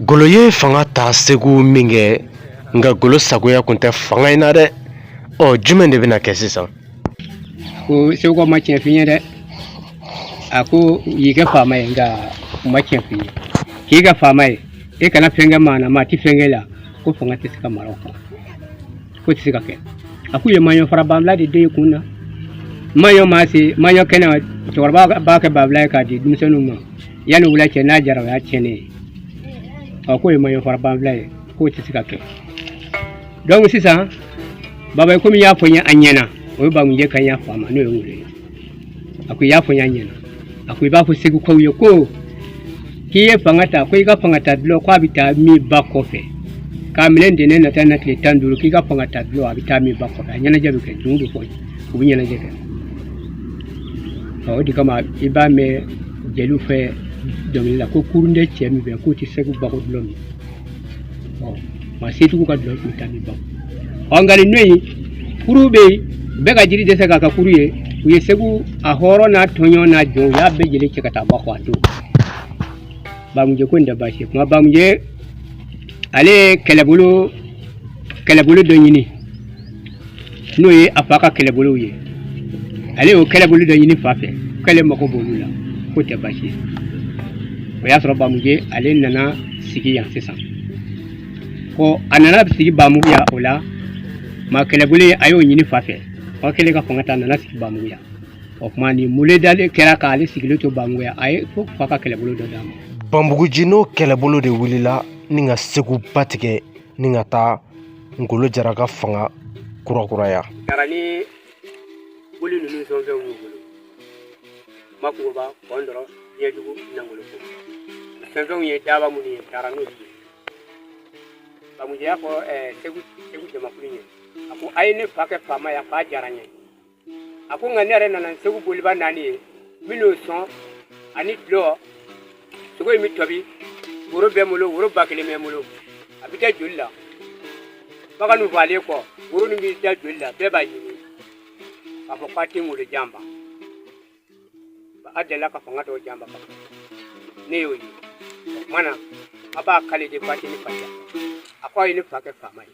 Ngolo ye fanga ta segu min kɛ nka ngolo sagoya tun tɛ fanga in na dɛ ɔ jumɛn de bɛna kɛ sisan ko segukaw ma tiɲɛ f'i ye dɛ a ko u y'i kɛ faama ye nka u ma tiɲɛ f'i ye k'i kɛ faama ye e kana fɛn kɛ maa na maa tɛ fɛn k'e la ko fanga tɛ se ka mara o kan k'o tɛ se ka kɛ a k'u ye maɲɔ fara banfula de d'e kun na maɲɔ maa se maɲɔ kɛnɛ cɛkɔrɔba b'a kɛ banfula ye k'a di denmisɛnninw ma yanni wula cɛ n'a jara o y'a tiɲɛnen ye ɔ k'o ye maɲɔ fara banfula ye k'o tɛ se ka kɛ donc sisan baba komi i y'a fɔ n ye a ɲɛna o ye bamunjɛ kan y'a fa ma n'o ye ngolo ye a ko i y'a fɔ n y'a ɲɛna a ko i b'a fɔ segukaw ye ko k'i ye fanga ta ko i ka fanga ta dulɔ k'a bɛ taa min ba kɔfɛ k'a minɛ ntɛnɛn na taa na tile tan ni duuru k'i ka fanga ta dulɔ a bɛ taa min ba kɔfɛ a ɲɛnajɛ bɛ kɛ dununw bɛ fɔ u bɛ ɲɛnajɛ kɛ o de kama i b'a mɛn jeliw fɛ dɔnkili la ko kurun tɛ cɛ min fɛ k'o tɛ segu bakɔ dulɔ min maa setigiw ka dulɔ bɛ taa min ba kɔ nka nin don in kurunw bɛ yen bɛɛ ka jiri dɛsɛ k'a kɛ kurun ye u ye segu a hɔrɔn n'a tɔnjɔn n'a jɔn u y'a bɛɛ jɛlen cɛ ka taa ba kɔ a don bamujɛ ko nin tɛ baasi ye kuma bamujɛ ale ye kɛlɛbolo kɛlɛbolo dɔ ɲini n'o ye a fa ka kɛlɛbolow ye ale y'o kɛlɛbolo dɔ ɲini fa fɛ k'ale mago b'olu la k'o tɛ baasi ye o y'a sɔrɔ bamujɛ ale nana sigi yan sisan ko a nana sigi bamugu yan o la ma kɛlɛbolo a y'o ɲini fa fɛ fa kɛlen ka fanga ta a nana sigi bamugu yan o tuma nin mule dalen kɛra k'ale sigilen to bamugu yan a y'a fɔ fa ka kɛlɛbolo dɔ d'a ma bamugu nci n'o kɛlɛbolo de wulila ni ka segu ba tigɛ ni ka taa ngolo jara ka fanga kurakuraya taara ni boli ninnu sɔnfɛn y'u bolo makungoba kɔntɔrɔn ɲɛjugu nangoloko sɔnfɛnw ye daaba minnu ye taara n'o ye bamujɛ y'a fɔ segu segu jamakulu ye a ko a ye ne fa kɛ faama ye a fa diyara n ye a ko nka ne yɛrɛ nana segu boliba naani ye minnu sɔn ani dulɔ sogo in bɛ tɔbi woro bɛ n bolo woro ba kelen bɛ n bolo a bɛ da joli la bagan ninnu fagalen kɔ woro ninnu bɛ da joli la bɛɛ b'a ɲimi k'a fɔ k'a tɛ ngolo janfa a delila ka fanga tɔw janfa ne y'o ye o kuma na a b'a kali de k'a tɛ ne fa a k'a ye ne fa kɛ faama ye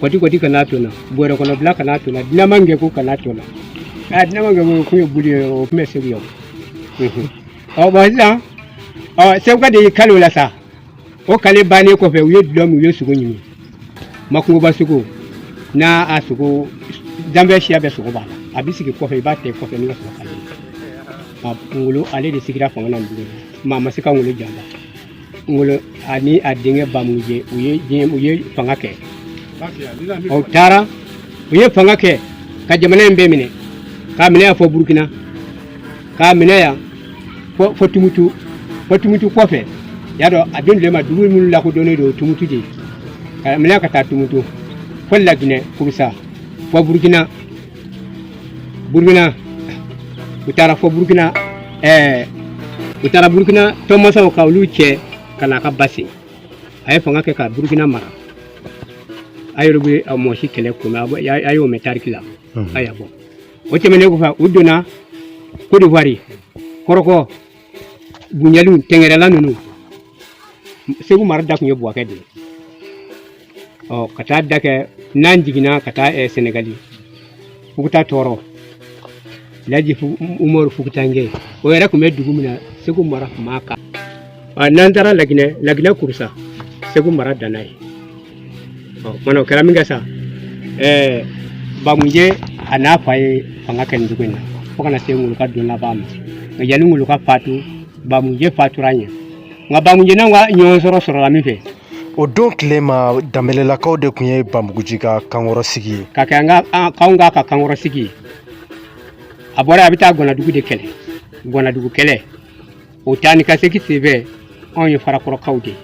kɔti kɔti kana to na bɔrɛ kɔnɔ bila kana to na dinama kɛ ko kana to na a dinama kɛ k'o kun ye boli ye o tun bɛ segu yan ɔ bɔn sisan ɔ seguka de y'i kali o la sa o kali bannen kɔfɛ u ye dulɔ min u ye sogo ɲini makungoba sogo n'a a sogo danbɛ siya bɛɛ sogo b'a la a bɛ sigi kɔfɛ i b'a tɛ kɔfɛ n'i ka sɔrɔ kali a kun ngolo ale de sigira fanga na maa ma se ka ngolo janfa ngolo ani a denkɛ bamunjɛ u ye diɲɛ u ye fanga kɛ o taara u ye fanga kɛ ka jamana in bɛɛ minɛ k'a minɛ yan fɔ burukina k'a minɛ yan fɔ fɔ tumutu fɔ tumutu kɔfɛ y'a dɔn a don tile ma dugu minnu lakodɔnnen don tumutu de k'a minɛ ka taa tumutu fɔ laginɛ kurusa fɔ burukina burukina u taara fɔ burukina ɛɛ u taara burukina tɔnmasaw ka olu cɛ ka na ka ba sen a ye fanga kɛ ka burukina mara a yɛrɛ bɛ a mɔsi kɛlɛ ko mɛn a y'o mɛn tariki la a y'a bɔ o tɛmɛnen kɔfɛ u donna kodiwari kɔrɔkɔ Bunyali tɛngɛrɛla ninnu segu mara dan tun ye buwakɛ de ye ɔ ka taa dan kɛ n'an jiginna ka taa eh, senegali fuguta tɔɔrɔ laji Fu- umaru fugutankɛ o yɛrɛ tun bɛ dugu min na segu mara tun b'a kan Ɔ, n'an taara laginɛ laginɛ kurusa segu mara danna yen Mana o kɛra min kɛ sa ɛɛ bamunjɛ a n'a fa ye fanga kɛ nin dugu in na fo ka na se ngolo ka don laban ma nka yanni ngolo ka fatu bamunjɛ fatura ɲɛ nka bamunjɛ n'an ka ɲɔgɔn sɔrɔ sɔrɔla min fɛ o don tile ma danbɛlɛlakaw de tun ye banbuguji ka kankɔrɔsigi ye ka kɛ an ka an- k'anw k'a ka kankɔrɔsigi ye a bɔra a bɛ taa gɔnadugu de kɛlɛ gɔnadugu kɛlɛ o taa ni ka segin sen fɛ anw ye farakɔrɔkaw de ye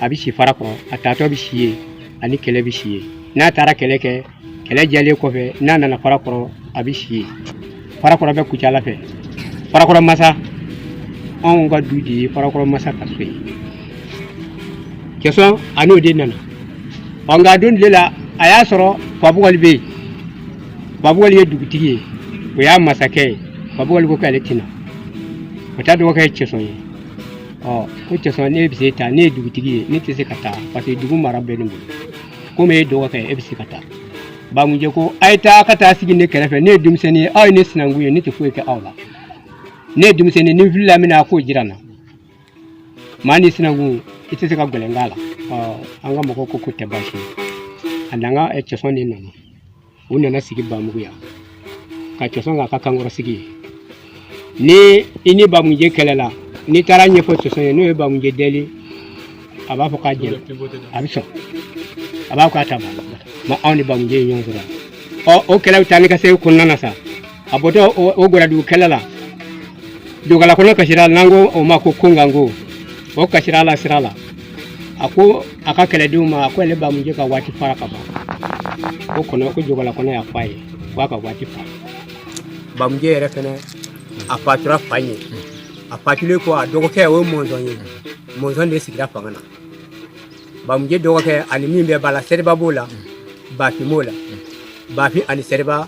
a bɛ si farakɔrɔ a taatɔ bɛ si yen ani kɛlɛ bɛ si yen n'a taara kɛlɛ kɛ kɛlɛ jɛlen kɔfɛ n'a nana farakɔrɔ a bɛ si yen farakɔrɔ bɛ kucala fɛ farakɔrɔ masa anw ka du de ye farakɔrɔ masa ka so ye cɛsɔn a n'o de nana ɔ nka a don tile la a y'a sɔrɔ fabukɔli bɛ yen fabukɔli ye dugutigi ye o y'a masakɛ ye fabukɔli ko k'ale tɛ na o ta dɔgɔkɛ ye cɛsɔn ye ɔ ko cɛsɔn e bɛ se taa ne ye dugutigi ye ne tɛ se ka taa parce que dugu mara bɛ ne bolo komi e ye dɔgɔkɛ e bɛ se ka taa bamunjɛ ko a ye taa ka taa sigi ne kɛrɛfɛ ne ye denmisɛnnin ye aw ye ne sinankun ye ne tɛ foyi kɛ aw la ne ye denmisɛnnin ni n filila min na a k'o jira n na maa ni sinankun i tɛ se ka gɛlɛn k'a la an ka mɔgɔw ko ko tɛ baasi ye a n'an ka cɛsɔn de nana u nana sigi bamugu yan ka cɛsɔn k'a ka kankɔrɔsigi ye ni i ni bamuje kɛlɛla n'i taar'a ɲɛfɔ cɛsɔn ye n'o ye bamuje deli a b'a fɔ k'a jɛra a bɛ sɔn a b'a fɔ k'a ta ma anw ni bamuje ye ɲɔgɔn sɔrɔ ɔ o kɛlɛ bɛ taa ni ka segin kɔnɔna na sa a bɔtɔ o gɔrɔdugu kɛlɛ la jogalakɔnɔ kasira n'an ko o ma ko konganko o kasira la sira la a ko a ka kɛlɛdenw ma a ko ale bamuje ka waati fara ka ban k'o kɔnɔ ko jogalakɔnɔ y'a fɔ a ye ko a ka waati fara bamuje yɛrɛ fɛnɛ a fatura fa ɲɛ a fatulen kɔ a dɔgɔkɛ o ye mɔnzɔn ye mɔnzɔn de sigira fanga na bamuje dɔgɔkɛ ani min bɛ ba la sɛriba b'o la bafin b'o la bafin ani sɛriba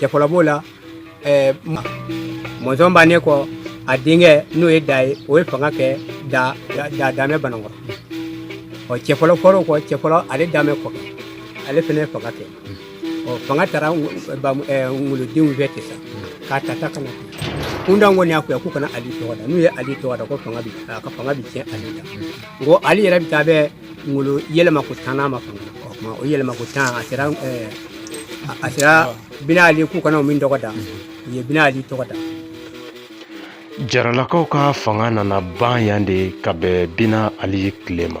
cɛfɔlɔ b'o la eh, mɔnzɔn bannen kɔ a denkɛ n'o ye da ye o ye fanga kɛ da da damɛ banankɔrɔ ɔ cɛfɔlɔ fɔr'o kɔ cɛfɔlɔ ale damɛ kɔfɛ ale fana ye fanga kɛ ɔ fanga taara ngolodenw fɛ ten sa k'a ta ta ka na kun da kɔni y'a fɔ yan k'u kana ali tɔgɔ da n'u ye ali tɔgɔ da ko fanga bi a ka fanga bi tiɲɛ ali la nko ali yɛrɛ bi taa bɛn ngolo yɛlɛma ko tan ma fanga o kuma o yɛlɛma ko tan a sera eh, a sera bina ali k'u kana o min tɔgɔ da u ye bina ali tɔgɔ da jaralakaw ka fanga nana ban yan de ka bɛn bina ali tile ma